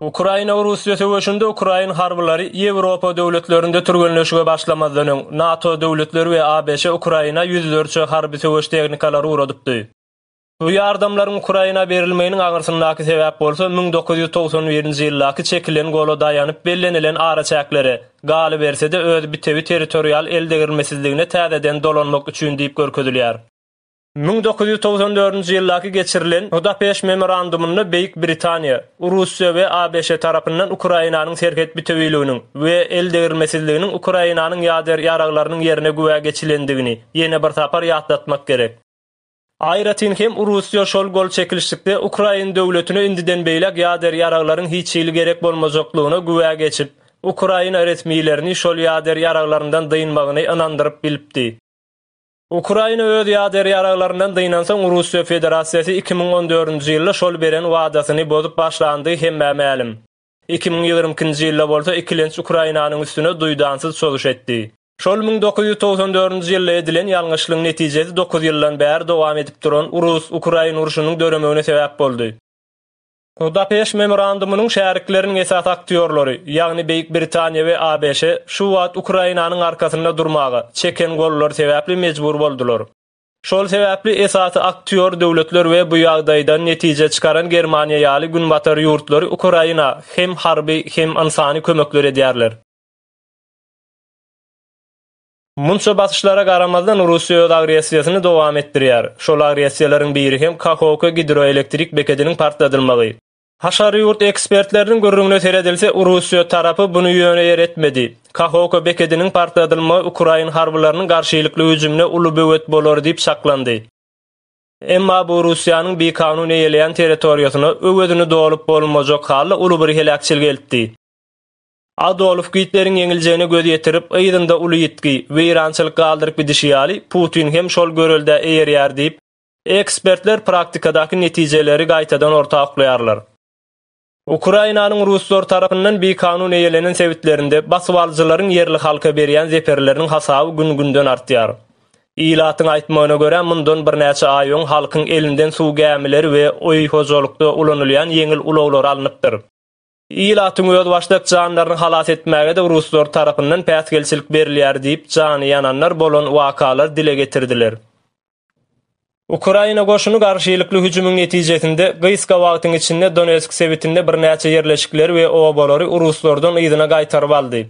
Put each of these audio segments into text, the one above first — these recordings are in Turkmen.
Ukraina-Russiýa söweşinde ukrain harbylary Ýewropa döwletlerinde türgenleşige başlamazdan öň, NATO döwletleri we ABŞ Ukraina ýüzlerçe harby söweş tehnikalary ugradypdy. Bu ýardamlaryň Ukraina berilmeginiň aňyrsyndaky sebäp bolsa müň dokuz ýüz togsan birinji ýyldaky çekilen gola daýanyp bellenilen araçäklere, galyberse-de öz bitewi territorial eldegrilmesizligine täzeden dolanmak üçin diýip görkezilýär. Müň dokuz ýüz togsan dördünji ýyldaky geçirilen Budapeşt memorandumynda Beýik Britaniýa, Russiýa we ABŞ tarapyndan Ukrainanyň serhet bitewüliginiň we eldegrilmesizliginiň Ukrainanyň ýader ýaraglarynyň ýerine güwä geçilendigini ýene bir sapar ýatlatmak gerek. Aýratyn hem Russiýa şol gol çekilişlikde Ukrain döwletine indiden beýläk ýader ýaraglaryň hiç hili gerek bolmajaklygyna güwä geçip, Ukraina resmilerini şol ýader ýaraglaryndan dynmagyny ynandyryp bilipdi. Ukraina öz ýader ýaraglaryndan dynansoň Russiýa Federasiýasy iki müň on dördünji ýylda şol beren wadasyny bozup başlandygy hemmä mälim. Iki müň ýigrimi ikinji ýylda bolsa ikilenç Ukrainanyň üstüne duýdansyz çozuş etdi. Şol müň dokuz ýüz togsan dördünji ýylda edilen ýalňyşlygyň netijesi dokuz ýyldan bäri dowam edip duran Rus, Ukrain urşunyň döremegine sebäp boldy. Budapeşt Memorandumynyň şärikleriniň esasy aktýorlary, ýagny Beýik Britaniýa we ABŞ, şu wagt Ukrainanyň arkasynda durmaga, çeken gollary sebäpli mejbur boldular. Şol sebäpli esasy aktýor döwletler we bu ýagdaýdan netije çykaran Germaniýa ýaly Günbatar ýurtlary Ukraina hem harby, hem ynsany kömekler edýärler. Munça basyşlara garamazdan Russiýa öz agressiýasyny dowam etdirýär. Şol agressiýalaryň biri hem Kahoka gidroelektrik bekediniň partladylmagy. Haşary ýurt ekspertleriniň gürrüňine seredilse, Russiýa tarapy buny ýöne ýer etmedi. Kahoka bekediniň partladylmagy ukrain harbylarynyň garşylykly hüjümine uly böwet bolar diýip çaklandy. Emma bu Russiýanyň bikanun eýeleýän territoriýasyna öwezini dolup bolmajak hala uly bir heläkçiligi eltdi. Adolf Gitleriň ýeňiljegine göz ýetirip, yzynda uly ýitgi, weýrançylyk galdyryp gidişi ýaly, Putin hem şol göreldä eýerýär diýip, ekspertler praktikadaky netijeleri gaýtadan orta oklaýarlar. Ukrainanyň ruslar tarapyndan bikanun eýelenen sebitlerinde basybalyjylaryň ýerli halka berýän zeperleriniň hasaby gün-günden artýar. Ilatyň aýtmagyna görä, mundan birnäçe aý öň halkyň elinden suw gämileri we öý hojalykda ulanylýan ýeňil ulaglary alnypdyr. Ilatyň özbaşdak janlaryny halas etmäge-de ruslar tarapyndan päsgelçilik berilýär diýip, jany ýananlar bolan wakalar dile getirdiler. Ukraina goşuny garşylykly hüjümiň netijesinde, gysga wagtyň içinde Donetsk sebitinde birnäçe ýerleşikleri we obalary ruslardan yzyna gaýtaryp aldy.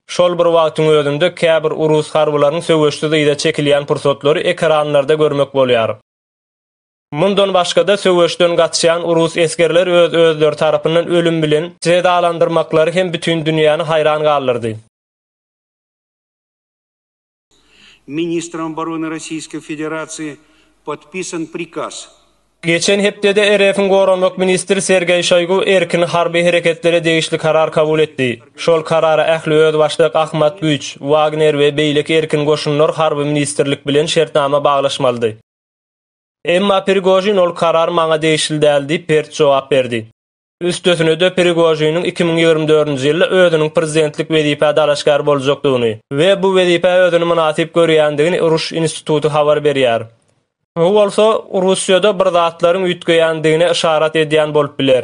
Şol bir wagtyň özünde käbir rus harbylarynyň söweşsiz yza çekilýän pursatlary ekranlarda görmek bolýar. Mundan başga-da, söweşden gaçýan rus esgerler öz-özleri tarapyndan ölüm bilen jezalandyrmaklary hem bütin dünýäni haýran galdyrdy. Ministrem obrony Rossiýske Federasiýa podpisan prikaz. Geçen hepdede RF-iň Goranmak ministri Sergeý Şoýgu erkin harby hereketlere degişli karar kabul etdi. Şol karara ähli özbaşdak Ahmat güýç, Wagner we beýleki erkin goşunlar harby ministrlik bilen şertnama baglaşmalydy. Emma Prigožin ol karar maňa degişli däl diýip pert jogap berdi. Üstesine-de Prigožiniň iki müň ýigrimi dördünji ýylda özüniň prezidentlik wezipä dalaşgär boljakdygyny we bu wezipä özüni mynasyp görýändigini Ruş instituty habar berýär. Bu bolsa Russiýada bir zatlaryň üýtgeýändigine yşarat edýän bolup biler.